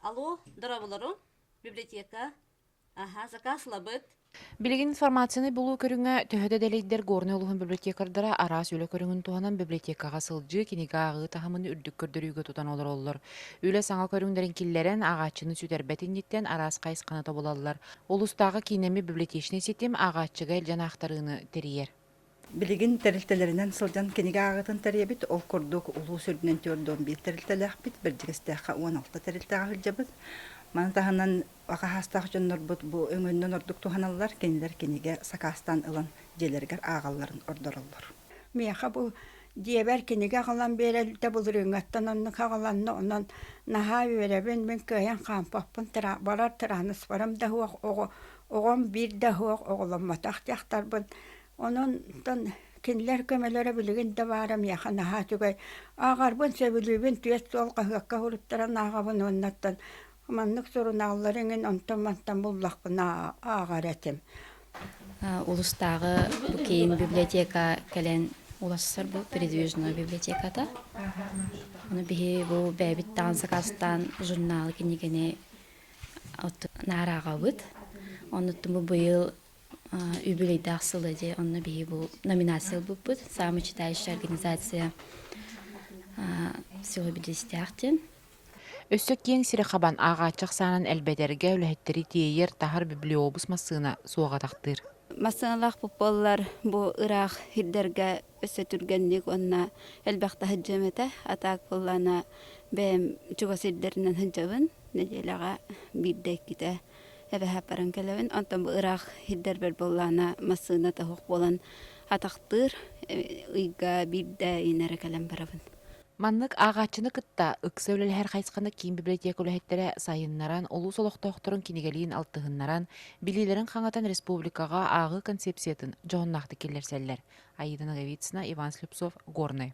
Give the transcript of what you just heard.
Алло, дорабыларым, библиотека. Аха, закаслабыт. Билигин информацияны булуу көрүҥэ төһө да дэлэйдэр Горнай улуһун библиотекардара араас үлэ көрүҥүн туһанан библиотекаҕа сылдьыы, кинигэ ааҕыы таһымын үрдүк көрдөрүүгэ тутан олороллор. Үлэ саҥа көрүҥнэрин киллэрэн, ааҕааччыны сүтэрбэт инниттэн араас хайысханы тобулаллар. Улустааҕы киинэми библиотечнай ситим ааҕааччыга илдьэн аахтарыыны тэрийэр. Билигин тэрилтэлэринэн сылдьан кинигэ ааҕыытын тэрийэбит. Ол курдук улуус үрдүнэн түөрт уон биир тэрилтэлээхпит, Бэрдьигэстээххэ уон алта тэрилтэҕэ сылдьабыт. Маны таһынан акаһаастаах дьоннорбут бу өҥөннөн ордук туһаналлар, кинилэр кинигэ сакаастаан ылан дьиэлэригэр ааҕалларын ордороллор. Миэхэ бу дьиэбэр кинигэ аҕалан биэрэллитэ былырыыҥҥаттан оннук аҕаланна, онон наһаа үөрэбин, мин кыайан хаампаппын, бара тырааныспарым да суох оҕо оҕом биир да суох оҕоломмотох дьахтарбын ононтон кинилэр көмөлөрө билигин да баара миэхэ наһаа үчүгэй ааҕарбын сөбүлүүбүн түөрт суол хаһыакка суруттаран ааҕабын уоннаттан маннык сурунааллары иҥин онтон мантан буллахпын ааҕар этим улустааҕы бу кейін библиотека кэлэн улассар бу передвижной библиотеката ону биһи бу бэйэбит таан сакаастаан журналы кинигини наарааҕабыт оннуттан бу быйыл үбүлүйдээх сыла дьэ онно биһи бу номинация ылбыппыт самочитающая организация всего бидлистяах диэн Өссө киэҥ сири хабан ааҕааччы ахсаанын элбэтэргэ үлэһиттэри тиэйэр таһар библиобус массыына суох атахтыыр. Массыыналаах бу ыраах ирдэргэ Өссө түргэнник уонна элбэх таһырдьам этэ. А так ыллана бэйэм чугас сирдэринэн сылдьабын. Нэдиэлэҕэ биирдэ-иккитэ эбэһэ баран кэлэбин. Онтон бу ыраах сирдэрбэр буоллаҕына массыына тоһук буолан атахтыыр ыйга биирдэ иин эрэ кэлэн барабын. Маннык ааҕааччыны кытта ыкса үлэлэһэр хайысханы киин библиотека үлэһиттэрэ сайыннаран, улуус олохтоохторун кинигэлиин алтыһыннаран, билиилэрин хаҥатан республикаҕа ааҕыы концепциятын дьоһуннаахтык киллэрсэллэр. Аида Ноговицына, Иван Слепцов, Горный.